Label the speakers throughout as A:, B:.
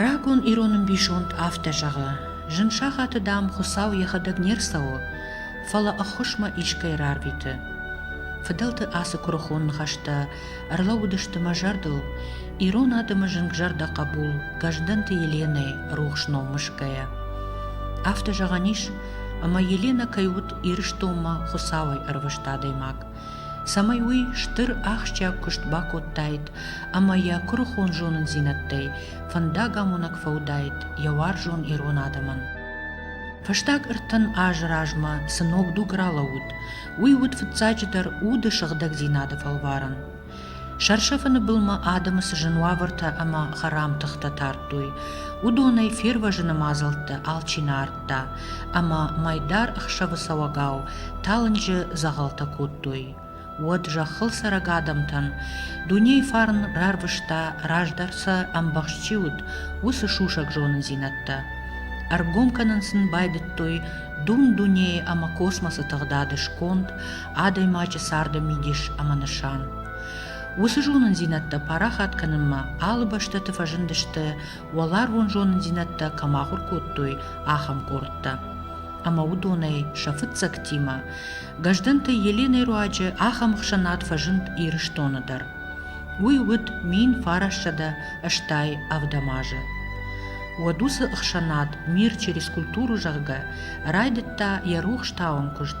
A: Рагон ирон ӕмбисонд афтӕ зӕгъы: Зын сахаты, дам, Хуыцау йӕхӕдӕг не рцӕуы, фӕлӕ ӕххуысмӕ искӕй рарвиты. Фыдӕлты ацы куырыхон ныхӕстӕ ӕрлӕууыдысты мӕ зӕрдыл, ирон адӕмы зынгзӕрдӕ хъӕбул Гӕздӕнты Еленӕйы рухс ном мысгӕйӕ. Афтӕ зӕгъӕн ис, ӕмӕ Еленӕ кӕй уыд Ирыстонмӕ Хуыцауӕй ӕрвыст адӕймаг. цӕмӕй уый стыр ахсджиаг куыст бакодтаид ӕмӕ йӕ куырыхон зонындзинӕдтӕй фӕндагамонӕг фӕуыдаид йӕ уарзон ирон адӕмӕн. Фӕстаг ӕртын азы размӕ цы ног дуг ралӕууыд, уый уыд фыццаджыдӕр уды сыгъдӕгдзинады фӕлварӕн. Сӕрсӕфыны былмӕ адӕмы цы зын уавӕртӕ ӕмӕ хӕрам тыхтӕ тардтой, уыдонӕй фервӕзыны мадзӕлттӕ алчи нӕ ардта, ӕмӕ мӕйдар ӕхсӕвыцӕуӕгау талынджы дзӕгъӕлтӕ кодтой. Уӕд зӕххыл цӕрӕг адӕмтӕн дунейы фарн рарвыста, раздӕр сӕ ӕмбӕхст чи уыд, уыцы сусӕг зонындзинӕдтӕ. Ӕргом кӕнын сын байдыдтой дун дунейы ӕмӕ космосы тыгъдады сконд, адӕймаджы царды мидис ӕмӕ нысан. Уыцы зонындзинӕдтӕ парахат кӕнынмӕ алы бӕстӕты фӕзындысты, уӕларвон зонындзинӕдтӕ кӕм ахуыр кодтой, ахӕм къордтӕ. Ӕмӕ уыдонӕй сӕ фыццӕгтимӕ Гӕздӕнты Еленӕйы руаджы ахӕм ӕхсӕнад фӕзынд Ирыстоны дӕр. Уый уыд мин фарӕссӕдӕ стӕй ӕвдӕм азы. Уӕд уыцы ӕхсӕнад «Мир через культуру» зӕгъгӕ райдыдта йӕ рухс тауӕн куыст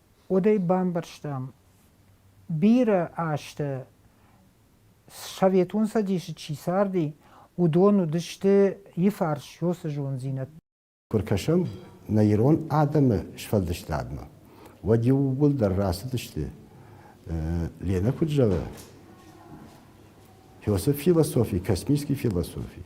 B: уӕдӕй бамбӕрстам, бирӕ азты Советон Цӕдисы чи царди, уыдон уыдысты иыфарс сёсы зондзинӕдтӕ. Куы ркӕсӕм
C: нӕ ирон адӕмы сфӕлдыстадмӕ, уӕд иууылдӕр рацыдысты, Ленӕ куыд зӕгъы, фёсы философи, космический философий,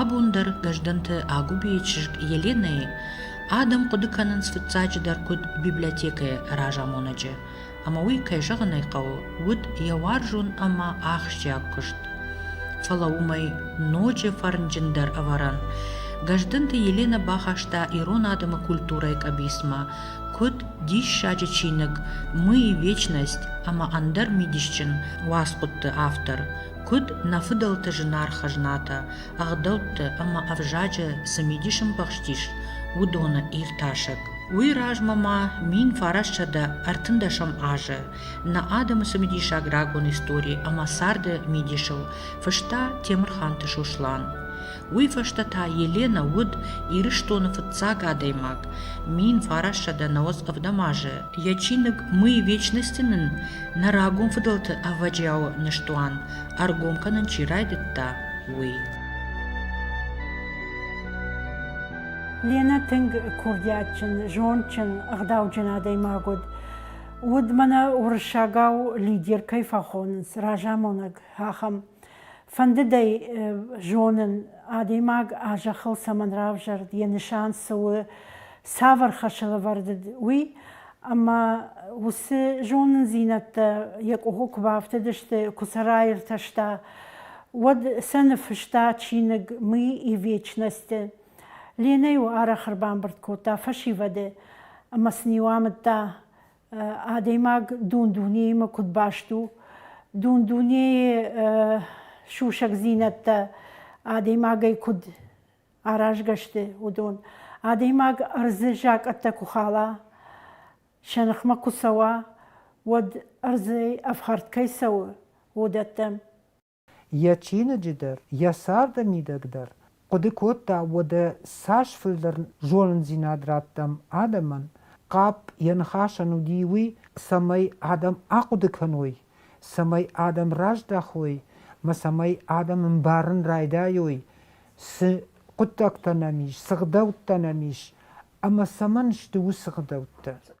A: Абон дӕр Гӕздӕнты Агуыбейы чызг Еленӕйы адӕм хъуыды кӕнынц фыццаджыдӕр куыд библиотекӕйы разамонӕджы, ӕмӕ уый, кӕй зӕгъын ӕй хъӕуы, уыд йӕ уарзон ӕмӕ ахсджиаг куыст. Фӕлӕ уымӕй ноджы фӕрнджындӕр ӕвӕрӕн Гӕздӕнты Еленӕ бахаста ирон адӕмы культурӕйы къӕбицмӕ, Куыд диссаджы чиныг Мы и вечность ӕмӕ ӕндӕр мидисджын уацхъуыдты автор, куыд нӕ фыдӕлты зынаргъ хӕзнатӕ, ӕгъдӕутты ӕмӕ ӕвзаджы цы мидис ӕмбӕхстис, уыдоны иртасӕг. Уый размӕ ма мин фарӕссӕдӕ ӕртындӕсӕм азы нӕ адӕмы цымыдисаг рагон истори ӕмӕ царды мидисыл фыста Темырханты Сослан. Уый фӕстӕ та Еленӕ уыд Ирыстоны фыццаг адӕймаг, мин фарассӕдӕ нӕуӕдз ӕвдӕм азы. Йӕ чиныг «Мы вечности-ы нын нӕ рагон фыдӕлты ӕвӕджиауы ныстуан ӕргом кӕнын чи райдыдта, уый.
D: Ленӕ тынг курдиатджын, зондджын, ӕгъдауджын адӕймаг уыд. Уыд мӕнӕ уырыссагау лидер кӕй фӕхонынц, разамонӕг, ахӕм. Фӕндыд ӕй зонын, адӕймаг а зӕххыл цӕмӕн равзӕрд, йӕ нысан цы у, цавӕр хӕсылӕвӕрд уыд, уый. Ӕмӕ уыцы зонындзинӕдтӕ йӕ къухы куы бафтыдысты, куы сӕ раиртӕста, уӕд сӕ ныффыста чиныг Мы и вечность-ы. Ленӕ-иу арӕх ӕрбамбырд кодта фӕсивӕды ӕмӕ сын-иу амыдта адӕймаг дун-дунеимӕ куыд баст у. Дун-дунейы сусӕгдзинӕдтӕ адӕймагӕй куыд аразгӕ сты, уыдон. Адӕймаг ӕрдзы закъӕттӕ куы хала, сӕ ныхмӕ куы цӕуа, уӕд ӕрдзӕй ӕфхӕрд кӕй цӕуы, уыдӕттӕм. йӕ
B: чиныджы дӕр, йӕ царды мидӕг дӕр, хъуыды кодта, уӕдӕ цас фылдӕр зонындзинад раттӕм адӕмӕн, хъӕпп йӕ ныхасӕн уыди уый, цӕмӕй адӕм ахъуыды кӕной, цӕмӕй адӕм раздӕхой мӕ цӕмӕй адӕм ӕмбарын райдайой, цы хъуыддӕгтӕ нӕм ис, цы гъдӕуттӕ нӕм ис ӕмӕ цӕмӕн сты уыцы гъдӕуттӕ.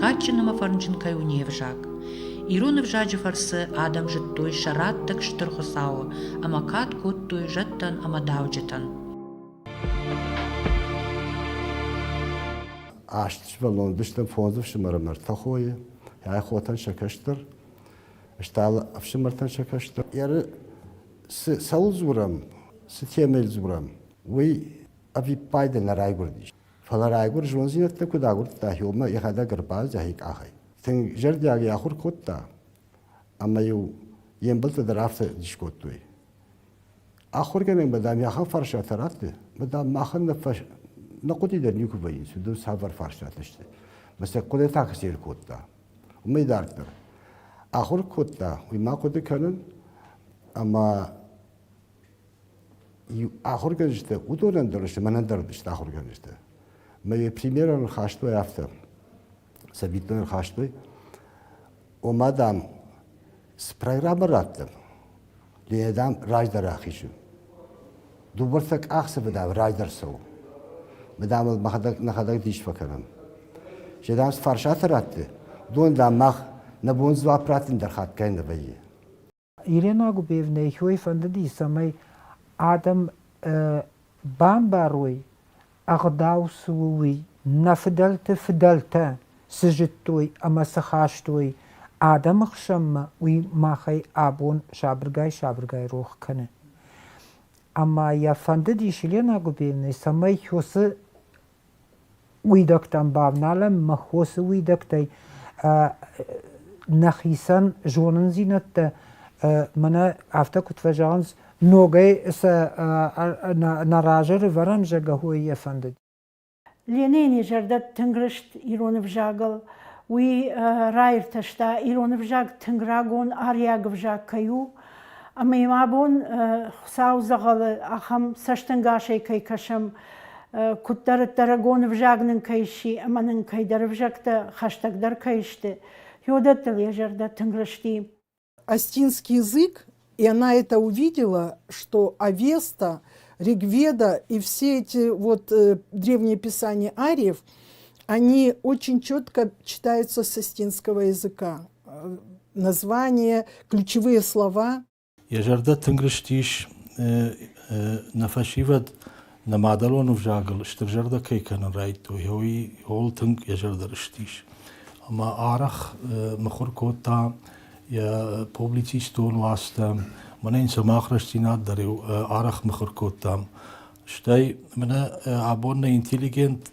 A: кадджын ӕмӕ фӕрнджын кӕй у не взаг. Ирон ӕвзаджы фӕрцы адӕм зыдтой сӕ раттӕг Стыр Хуыцауы ӕмӕ кад кодтой зӕдтӕн ӕмӕ дауджытӕн.
C: Астысбӕл ӕлдыстӕн фондз ӕфсымӕры мӕрдтӕ хойы, ӕй хотӕн сӕ кӕстӕр, стал ӕфсымӕртӕн сӕ кӕстӕр. Еры цӕуыл дзурӕм, цы темӕйыл дзурӕм, уый ӕвиппайды нӕ райгуырдис. Фӕлӕ райгуыр зондзинӕдтӕ куыд агуырдта Иомӕ йӕхӕдӕг ӕрбадт йӕхи къахӕй. Тынг зӕрдиагӕй ахуыр кодта, ӕмӕ-иу йе мбӕлттӕ дӕр афтӕ дис кодтой. Ахуыргӕнӕг ба, дам, ахӕм фарстатӕ ратты, ба, дам, махӕн нӕ, фӕс... нӕ хъуыди дӕр никуы вӕййынц, уыдон цавӕр фарстатӕ сты. Мӕ сӕ хъуыдытӕ куы сӕр кодта, уымӕй дарддӕр. Ахуыр кодта, уый ма хъуыды кӕнын, ӕмӕ ахуыргӕнджытӕ уыдонӕн дӕр сты мӕнӕн дӕр сты ахуыргӕнджытӕ мӕ йӕ примерӕ ныхастой афтӕ цӕвиттон ныхастой ома дам спрай рабӕрӕттӕм ӕмӕ дам раздӕр ахизы дыууӕртӕ къахдзӕфы дам раздӕр цӕуы мы дам ыл мӕхӕдӕг нӕхӕдӕг дис фӕкӕнӕм се дам цы фарсаты радты уыдон дам мах нӕ бон дзуапп раттын дӕр хатгай нӕ вӕййы
B: Ирена Губевнӕйы хой фӕндыди, цӕмӕй адӕм бамбарой, ӕгъдау цы у, уый, нӕ фыдӕлты фыдӕлтӕ цы зыдтой ӕмӕ цы хастой адӕмы хсӕнмӕ, уый махӕй абон сабыргай-сабыргай рох кӕны. Ӕмӕ йӕ фӕндыдис Елена Губевнӕ, цӕмӕй Хёсы Уидӕгтӕн бавналӕн мӕ хосы уидӕгтӕй нӕхицӕн зонындзинӕдтӕ мӕнӕ афтӕ куыд фӕзӕгъынц, ногӕй сӕ нӕ разы рывӕрӕм зӕгӕхой йӕ фӕндыд. Ленини
D: зӕрдӕ тынг рыст ирон ӕвзагыл. Уый раиртӕста, ирон ӕвзаг тынг рагон, ариаг ӕвзаг кӕй у. Ӕмӕ мӕ бон Хуыцау дзӕгъӕлы ахӕм цӕстӕнгасӕй кӕй кӕсӕм, куыддӕриддӕр рагон ӕвзаг нын кӕй сси ӕмӕ нын кӕйдӕр ӕвзӕгтӕ хӕстӕгдӕр кӕй сты, уыдӕттыл йӕ зӕрдӕ тынг рысти. Остинский
E: язык, и она это увидела, что Авеста, Ригведа и все эти вот древние писания ариев, они очень четко читаются с остинского языка. название, ключевые слова. Йӕ зӕрдӕ тынг
F: рыстис нӕ фӕсивӕд нӕ мадӕлон ӕвзагыл стыр зӕрдӕ кӕй кӕнын райдтой, уый ууыл тынг йӕ зӕрдӕ рыстис. Ӕмӕ арӕх мыхуыр кодта йӕ публицистон уацтӕ, мӕнӕ йын сӕ мах рӕстдзинад дӕр арӕх мыхуыр кодтам. Стӕй мӕнӕ абон нӕ интеллигент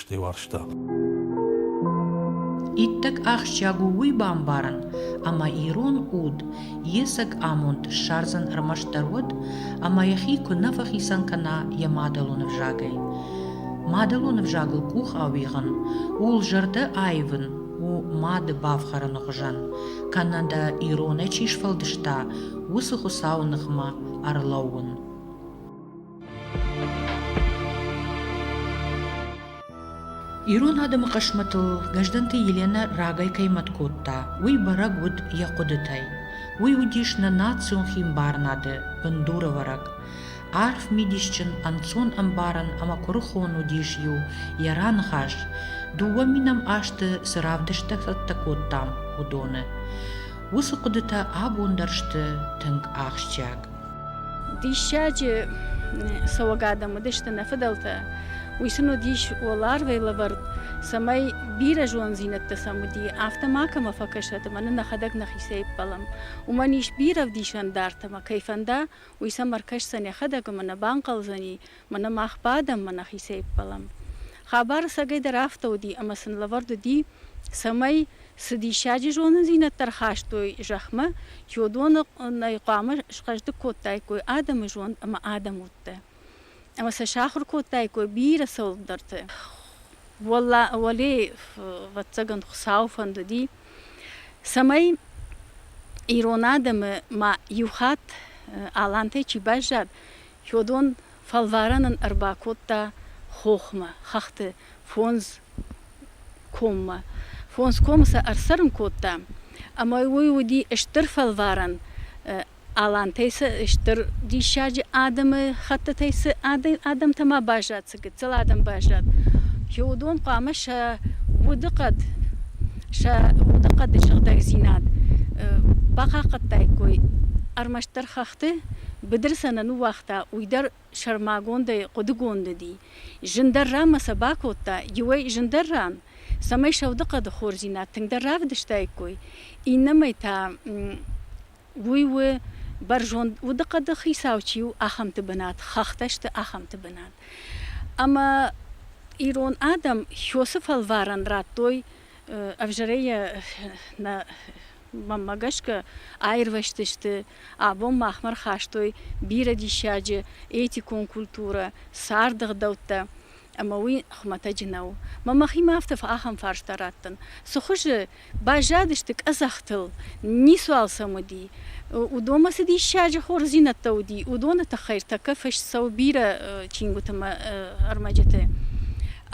F: фтеуарзта.
A: Иттӕг ахсджиаг у уый бамбарын, ӕмӕ ирон уд йе цӕг амонд ссардзӕн ӕрмӕстдӕр уӕд, ӕмӕ йӕхи куы нӕ фӕхицӕн кӕна йӕ мадӕлон ӕвзагӕй. Мадӕлон ӕвзагыл къух ауигъын, ууыл зӕрдӕ аивын у мады бафхӕрыны хуызӕн, кӕнӕ дӕ иронӕй чи сфӕлдыста, уыцы Хуыцауы ныхмӕ ӕрлӕууын. Ирон адӕмы хъысмӕтыл Гӕздӕнты Еленӕ рагӕй кӕй мӕт кодта, уый бӕрӕг уыд йӕ хъуыдытӕй. Уый уыдис нӕ национ химбарынады бындурӕвӕрӕг. Арф мидисджын, ӕнцон ӕмбарӕн ӕмӕ куырыхон уыдис иу йӕ раныхас, дыууӕ минӕм азты цы равдысттӕ цӕттӕ кодтам, уыдоны. Уыцы хъуыдытӕ абон дӕр сты тынг ахсджиаг.
G: Диссаджы цӕуӕг адӕм уыдысты нӕ фыдӕлтӕ. Уый сын уыдис уӕларвӕй лӕвӕрд, цӕмӕй бирӕ зонддзинӕдтӕ сӕм уыди, афтӕ макӕмӕ фӕкӕсӕт ӕмӕ нын нӕхӕдӕг нӕхицӕй ӕппӕлӕм. Уымӕн ис бирӕ ӕвдисӕндартӕ ӕмӕ кӕй фӕнда, уый сӕм ӕркӕсдзӕн йӕхӕдӕг ӕмӕ нӕ банхъӕлдзӕни, Мӕнӕ мах бадӕм, мӕ нӕхицӕй ӕппӕлӕм. Хабар сагӕйдӕр афтӕ уыди, ӕмӕ сын лӕвӕрд уыди, цӕмӕй, цы диссаджы зонындзинӕдтӕ рхастой зӕхмӕ, чи уыдоны хъуамӕ схъӕздыг кодтаиккой адӕмы зонд ӕмӕ адӕм удтӕ, ӕмӕ сӕ сахуыр кодтаиккой бирӕ цӕуылдӕрты. Уӕлейы, ӕвӕццӕгӕн, Хуыцауы фӕнд уыди, цӕмӕй ирон адӕмы ма иу хатт Алантӕй чи баззад, Чодон фӕлварӕн ын ӕрбакодта хохмӕ, хӕхты фондз коммӕ. Фондз комы сӕ ӕрцӕрын кодта, ӕмӕ уый уыди стыр фӕлварӕн. Алантӕй цы стыр диссаджы адӕмы хӕттытӕй цы адӕмтӕ ма баззад, гыццыл адӕм баззад. уыдон хъуамӕ сӕ удыхъӕд, сӕ удыхъӕды сыгъдӕгдзинад бахъахъхъӕдтаиккой. Ӕрмӕстдӕр хӕхты быдыр сӕ нӕ ныууагъта, уый дӕр сӕрмагондӕй хъуыдыгонд уыди. Зындӕр ран ма сӕ бакодта, иуӕй зындӕр ран, цӕмӕй сӕ удыхъӕды хорздзинад тынгдӕр равдыстаиккой, иннӕмӕй та Уый у бӕрзонд удыхъӕды хицау чи у, ахӕмты бынат, хӕхтӕ сты ахӕмты бынат. Ӕмӕ ирон адӕм Хёсы фӕлварӕн радтой ӕвзӕрӕй йӕ нӕ мӕнмӕ гӕсгӕ аирвӕзтысты, абон махмӕ рхастой бирӕ диссаджы этикон культурӕ, царды гъдӕуттӕ. Ӕмӕ уый хуымӕтӕджы нӕу. Мӕ мӕхимӕ афтӕ ахӕм фарста раттын. Цы хуызы баззадысты къӕдзӕхтыл, ницуал сӕм уыди. Уыдонмӕ цы диссаджы хорздзинӕдтӕ уыди, уыдоны тыххӕй ӕртӕккӕ фыст цӕуы бирӕ чингуыты мӕ ӕрмӕджыты.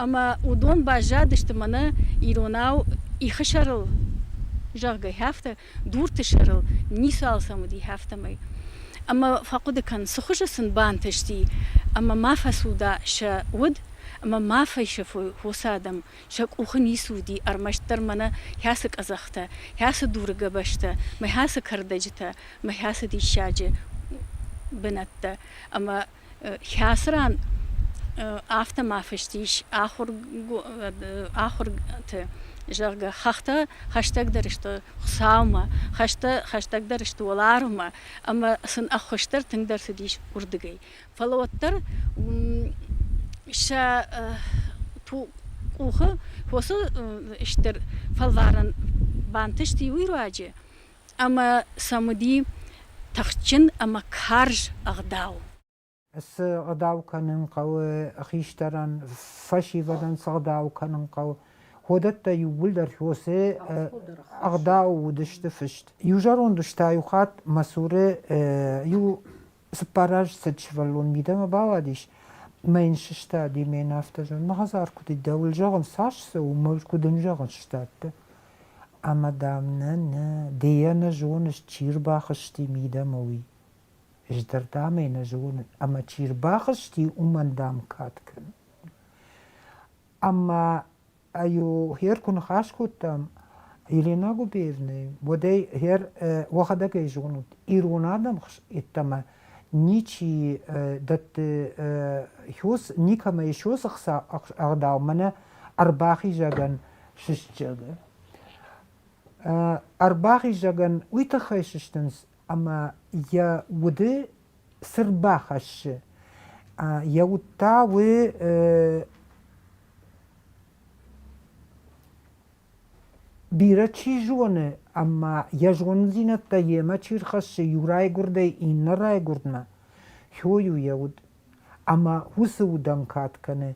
G: Ӕмӕ уыдон баззадысты мӕнӕ иронау ихы сӕрыл, зӕгъгӕ, афтӕ. дурты сӕрыл ницы алцӕм уыди, афтӕмӕй. Ӕмӕ фӕхъуыды кӕн, цы хуызы сын бантысти, ӕмӕ ма фӕцуда сӕ уд, ӕмӕ ма фӕсӕфой хосы адӕм, сӕ къухы ницы уыди ӕрмӕстдӕр мӕнӕ хӕцы къӕдзӕхтӕ, хӕцы дуры гӕбӕзтӕ, мӕ хӕцы кӕрдӕджытӕ, мӕ хӕцы диссаджы бынӕттӕ ӕмӕ Хӕцран афтӕ ма фыст ис ахуырты, зӕгъгӕ, хӕхтӕ хӕстӕгдӕр сты Хуыцаумӕ, хӕстӕ хӕстӕгдӕр сты уӕларвмӕ ӕмӕ сын ӕххуысдӕр тынгдӕр цыдис уырдыгӕй. Фӕлӕ уӕддӕр сӕ къухы фосы стыр фӕлварӕн бантыст иу руаджы ӕмӕ сӕм уыди тыхджын ӕмӕ карз ӕгъдау. Цы
B: ӕгъдау кӕнын хъӕуы, хистӕрӕн фӕсивӕдӕн цы ӕгъдау кӕнын хъӕуы, уыдӕттӕ иууылдӕр Хосе ӕгъдау уыдысты фыст. Иу зӕронд ус та иу хатт мӕ цуры иу Цыппар азы цыд сывӕллон мидӕмӕ бауадис мӕ йын сыстади, мӕ йын афтӕ зӕгъын, мӕ хӕдзар куыд и, дӕуыл зӕгъын, цас цы у, мыл куыд ын зӕгъын, сдӕтты. Ӕмӕ, дам, нӕ, нӕ, ды йӕ нӕ зоныс, чи рбахызти мидӕмӕ, уый. Ӕз дӕр, дам, ӕй нӕ зонын, ӕмӕ чи рбахызти, уымӕн, дам, кад кӕнын. Ӕмӕ аю гьер ку нихас кодтам елена губеевнай уодӕй гьер уӕхӕдӕгӕй зонут ирон адӕм еттӕмӕ ничи дӕтти хёс никӕмӕй хёс ӕхца ӕгъдау мӕнӕ ӕрбахизӕгӕн сыстджагӕ ӕрбахизӕгӕн уый тыххӕй сыстынц ӕмӕ йӕ уды цырд бахӕссы. Йӕ уд та уый бирӕ чи зоны, ӕмӕ йӕ зонындзинӕдтӕ йемӕ чи рхӕссы иу райгуырдӕй иннӕ райгуырдмӕ, хойы йӕ уд. Ӕмӕ уыцы удӕн кад кӕны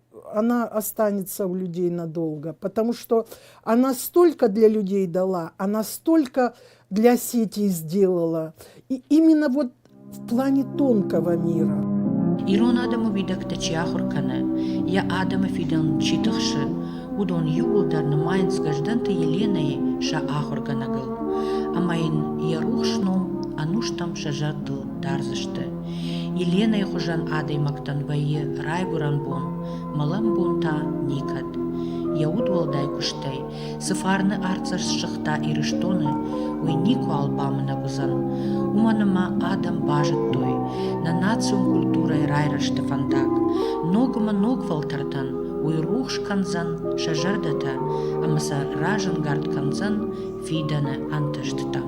E: она останется у людей надолго, потому что она столько для людей дала, она столько для сети сделала. И именно вот в плане тонкого мира. Ирон адӕмы
A: уидӕгтӕ чи ахуыр кӕны, йӕ адӕмы фидӕн чи тыхсы, уыдон иууылдӕр нымайынц Гӕздӕнты Еленӕйы сӕ ахуыргӕнӕгыл, ӕмӕ йын йӕ рухс ном ӕнустӕм сӕ зӕрдыл дардзысты. Еленӕйы хуызӕн адӕймӕгтӕн вӕййы райгуырӕн бон, мӕлӕн бон та никӕд. Йӕ удуӕлдай куыстӕй цы фарны артдзӕст ссыгъта Ирыстоны, уый никуал бамынӕг уыдзӕн. Уымӕн ӕмӕ адӕм базыдтой нӕ национ культурӕйы райрӕзты фӕндаг. Ног ӕмӕ ног фӕлтӕртӕн уый рухс кӕндзӕн сӕ зӕрдӕтӕ ӕмӕ сӕ разӕнгард кӕндзӕн фидӕны ӕнтыстытӕм.